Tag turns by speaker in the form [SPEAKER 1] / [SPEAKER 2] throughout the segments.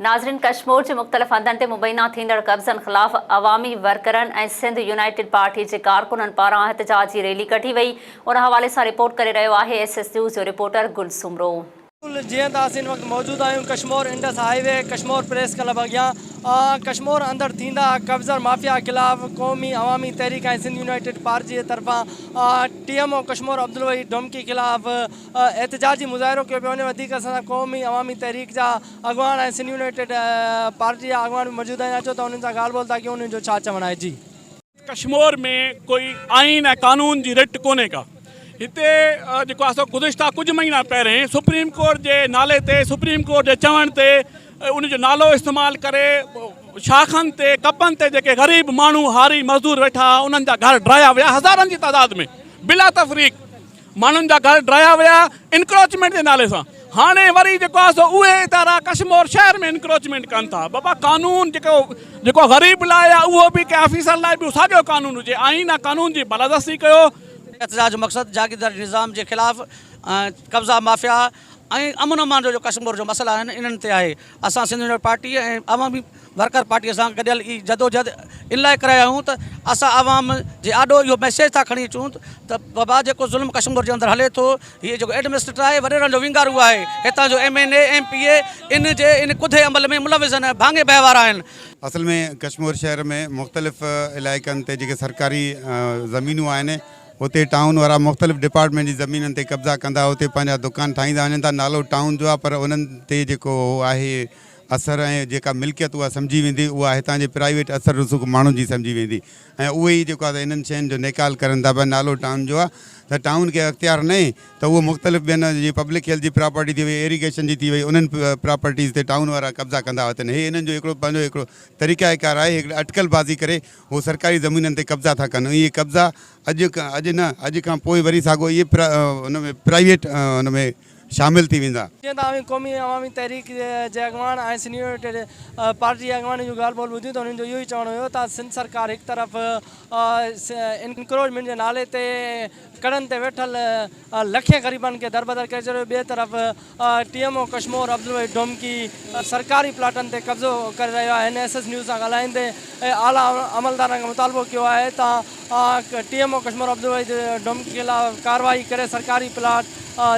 [SPEAKER 1] ناظرين ڪشمور جي مختلف هنڌن تي مبينا ٿيندڙ قبضن خلاف عوامي ورڪرن ۽ سنڌ يونائيٽيڊ پارٽي جي ڪارڪنن پاران احتجاجي ريلي ڪڍي وئي ان حوالي سان رپورٽ ڪري رهيو آهي ايس ايس نيوز جو رپورٽر گل سومرو. جيئن ته
[SPEAKER 2] اسين ان وقت موجود آهيون Kashmore Indus highway Kashmore press club اڳيان ڪشمور اندر ٿيندا قبضر مافيا خلاف قومي عوامي تحريڪ ۽ سنڌ يونائيٽيڊ پارٽي جي طرفان T M O Kashmore Abdulwaheed Domki خلاف احتجاجي مظاهرو ڪيو پيو وڃي وڌيڪ اسان سان قومي عوامي تحريڪ جا اڳواڻ ۽ سنڌ يونائيٽيڊ پارٽي جا اڳواڻ به موجود آهن اچو ته انهن سان ڳالهه ٻولهه ٿا ڪيون انهن جو ڇا چوڻ آهي جي. ڪشمور
[SPEAKER 3] ۾ ڪوئي آئين ۽ قانون جي رٽ ڪونهي ڪا هتي جيڪو آسو گذشته ڪجهه مهينا پهرين سپريم ڪورٽ جي نالي تي سپريم ڪورٽ جي چوڻ تي ان جو نالو استعمال ڪري شاخن تي ڪپن تي جيڪي غريب ماڻهو هاري مزدور ويٺا انهن جا گهر ڊرايا ويا هزارن جي تعداد ۾ بلا تفريق ماڻهن جا گهر ڊاهيا ويا انڪروچمينٽ جي نالي سان هاڻي وري جيڪو آهي سو اهي ادارا ڪشمور شهر ۾ انڪروچمينٽ ڪن ٿا بابا قانون جيڪو جيڪو غريب لاء آهي اهو به ڪنهن آفيسر لاء به ساڳيو قانون هجي آئين ۽ قانون جي بالادستي ڪيو. احتجاج جو مقصد
[SPEAKER 4] جاگيرداري نظام جي خلاف قبضا مافيا، ۽ امن امان جو جو ڪشمور جو مسئلا آهن انهن تي آهي اسان Sindh national party ۽ Awami worker party سان گڏيل هي جدوجهد ان لاء ڪري رهيا آهيون ته اسان عوام جي آڏو اهو ميسيج ٿا کڻي اچون ته بابا جيڪو ظلم ڪشمور جي اندر هلي ٿو هي جيڪو ايڊمنسٽريٽر آهي وڏيرن جو وينگارو آهي هتان جو M N A M P A ان جي ان ڪڌي عمل ۾ ملوث آهن ڀاڱي بهوار آهن. اصل ۾
[SPEAKER 5] ڪشمور شهر ۾ مختلف علائقن تي جيڪي سرڪاري زمينون آهن اتي ٽائون وارا مختلف ڊپارٽمينٽ جي زمينن تي قبضا ڪندا اتي پنهنجا دڪان ٺاهيندا وڃن ٿا نالو ٽائون جو آهي پر انهن تي جيڪو اهو آهي اثر ۽ جيڪا ملڪيت اها سمجهي ويندي اها هتان جي پرائيويٽ اثر رسوخ ماڻهن جي سمجهي ويندي ۽ اهي ئي جيڪو آهي انهن شين جو نيڪال ڪرن ٿا پر نالو ٽائون جو آهي ته ٽائون کي اختيار ناهي ته اهو مختلف ٻين جيئن پبلڪ هيلٿ جي پراپرٽي ٿي وئي ايريگيشن جي ٿي وئي انهن پراپرٽيز تي ٽائون وارا قبضا ڪندا وتن هي انهن جو هڪڙو پنهنجو هڪڙو طريقه ڪار آهي هڪڙي اٽڪل بازي ڪري هو سرڪاري زمينن تي قبضا ٿا ڪن ۽ اهي قبضا اڄ اڄ نه اڄ کان پوء وري ساڳو اهي ان ۾ پرائيويٽ ان ۾ شامل ٿي ويندا. جيئن ته اوهين قومي
[SPEAKER 2] عوامي تحريڪ جي اڳواڻ ۽ سينيورٽيڊ پارٽي جي اڳواڻن جون ڳالهه ٻولهه ٻڌيون ته انهن جو اهو ئي چوڻ هيو ته سنڌ سرڪار هڪ طرف انڪروچمينٽ جي نالي تي ڪڙن تي ويٺل لکين غريبن کي دربدر ڪري ڇڏيو، ٻئي طرف T M O Kashmore Abdulwaheed Domki سرڪاري پلاٽن تي قبضو ڪري رهيو آهي، هن ايس ايس نيوز سان ڳالهائيندي اعليٰ عملدارن کان مطالبو ڪيو آهي ته T M O Kashmore Abdulwaheed Domki خلاف ڪارروائي ڪري سرڪاري پلاٽ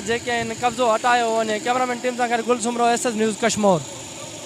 [SPEAKER 2] جيڪي آهن قبضو هٽايو وڃي، ڪيمرامين ٽيم سان گڏ Gul Soomro S S news Kashmore.